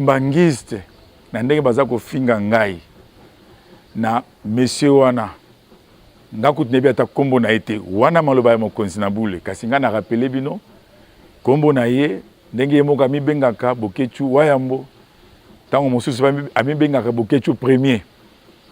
Mbangiste na ndenge baza kofinga ngai na monsieur wana nga kutu nayebi ata nkombo na ye te wana maloba ya mokonzi na bule kasi ngai na rapele bino nkombo na ye ndenge ye moko amibengaka bokechu wayambo ntango mosusu amibengaka bokechu premier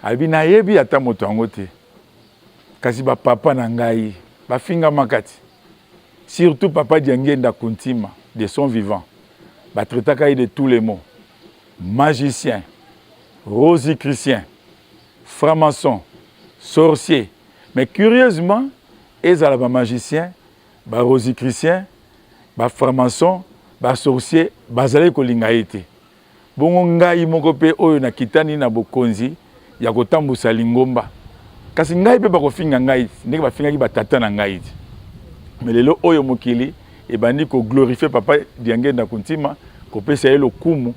alobi nayebi ata moto yango te kasi bapapa na ngai bafingamaka ti Surtout papa Diangienda Kuntima de son vivant ba traitaka ye de tous les mots magicien, rosicrucien, franc-maçon, sorcier mais curieusement ezala ba magiciens, ba rosicruciens, ba franc-maçons, ba sorciers bazalaki kolinga ye te. Bongo ngai moko mpe oyo nakitani na bokonzi ya kotambusa lingomba, kasi ngai mpe bakofinga ngai ndenge bafingaki batata na ngai ti me lelo oyo mokili ebandi koglorifie papa Diangenda Kuntima, kopesa ye lokumu,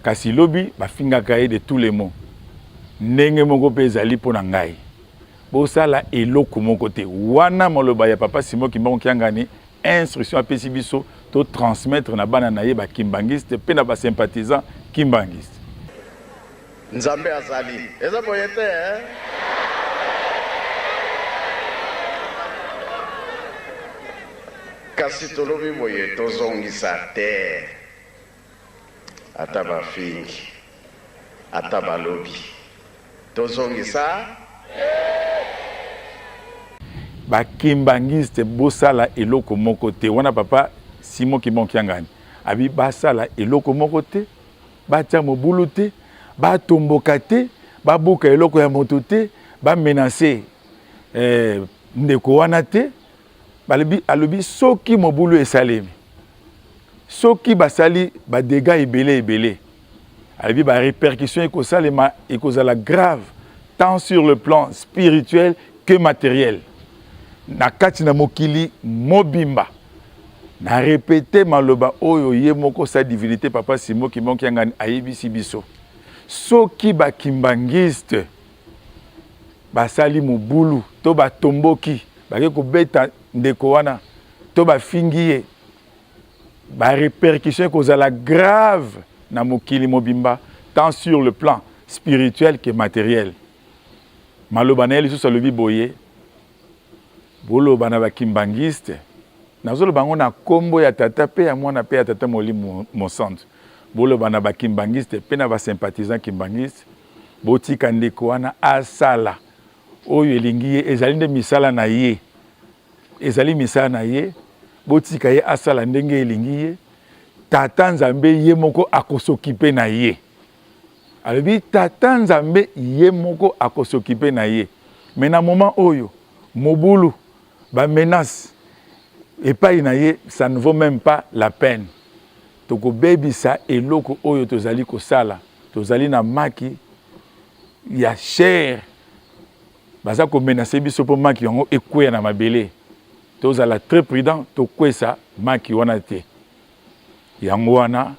kasi lobi bafingaka ye de tous les mots. Ndenge moko mpe ezali mpo na ngai, bosala eloko moko te wana maloba ya papa Simon Kimbangu Kiangani instruction apesi biso to transmettre na bana na ye ba kimbanguiste mpe na ba sympathisants kimbanguiste nzambe azali eza boye te eh? kasi tolobi boye tozongisa te Ata ba fingi ata ba lobi to zongisa eeh. Ba kimbanguiste bo sala eloko moko te wana papa Simon kimbangu kiangani abi ba sala eloko moko te ba tia mobulu te ba tomboka te ba buka eloko ya moto te ba menace eeh ndeko wana te. balobi alobi soki mobulu esalemi soki basali badega ebele ebele alobi barepercussion ekosalema ekozala grave tant sur le plan spirituel que materiel na kati na mokili mobimba na repete maloba oyo ye moko sa divinité papa simo kimbangu kiangani ayebisi biso soki bakimbangiste basali mobulu to batomboki bake kobeta ndeko wana to bafingi ye ba répercussion ekozala grave na mokili mobimba tant sur le plan spirituel que matériel maloba na ye lisusu alobi boye boloba na bakimbangiste nazoloba yango na nkombo ya tata mpe ya mwana mpe ya tata molimo mosantu boloba na bakimbangiste mpe na basympathisant kimbangiste Botika ndeko wana asala oyo elingi ye, ezali nde misala na ye, ezali misala na ye. Botika ye asala ndenge elingi ye. Tata Nzambe ye moko akosokipe na ye. Alobi Tata Nzambe ye moko akosokipe na ye. Me na moma oyo mobulu ba menace epai na ye ça ne vaut même pas la peine tokobebisa eloko oyo tozali kosala tozali na maki ya cher baza komenase biso mpo maki yango ekweya na mabele tozala très prudent tokwesa maki wana te Yango wana,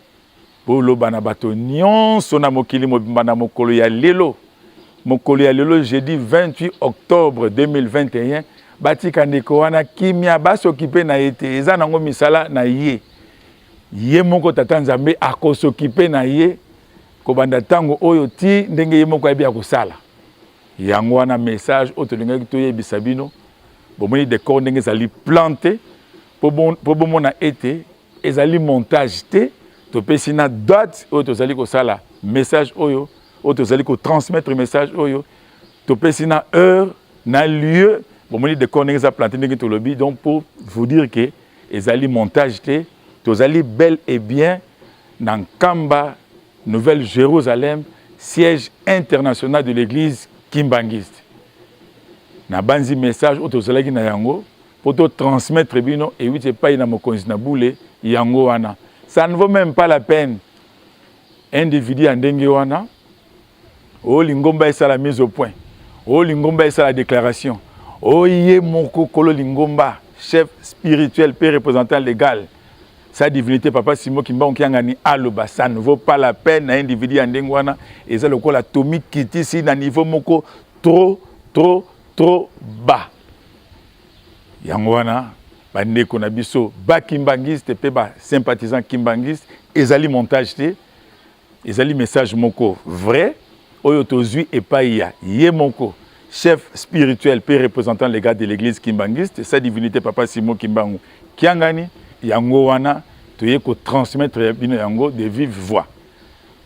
boloba na bato nyonso na mokili mobimba na mokolo ya lelo, mokolo ya lelo jeudi 28 octobre 2021, batika ndeko wana kimia, basokipe na ye te, eza nango misala na ye. Ye moko Tata Nzambe akosokipe na ye kobanda ntango oyo ti ndenge ye moko ayebi ya kosala. Yango wana message oyo tolingaki toyebisa bino, bomoni decor ndenge ezali plante Mpo bomona ete ezali montage te, topesi na date oyo tozali kosala message oyo, oyo tozali kotransmettre message oyo, topesi na heure na lieu bomoni decor ndenge eza plante ndenge tolobi donc pour vous dire que ezali montage te tozali bel et bien na nkamba nouvelle jérusalem siège international de l'église kimbanguiste nabanzi message oyo tozalaki na yango mpo to transmettre bino ewuti epai na mokonzi na bule yango wana ça ne vaut même pas la peine individu ya ndenge wana oyo oh, lingomba esala mise au point oyo oh, lingomba esala déclaration oyo oh, ye moko kolo lingomba chef spirituel mpe représentant légal sa divinité papa simo kimbangu kiangani aloba ça ne vaut pas la peine na individu ya ndenge wana eza lokola tomikitisi na niveau moko trop trop trop bas yango wana bandeko na biso bakimbangiste mpe basympathisant kimbangiste ezali montage te ezali message moko vrai oyo tozwi epai ya ye moko chef spirituel mpe représentant legal de l'église kimbangiste sa divinité papa simo kimbangu kiangani yango wana toye kotransmettre ya bino yango de vive voix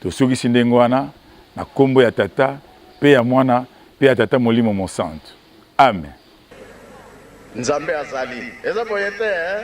tosukisi ndenge wana na nkombo ya tata mpe ya mwana mpe ya tata molimo mosantu Amen. Nzambe azali. Eza boye te eh?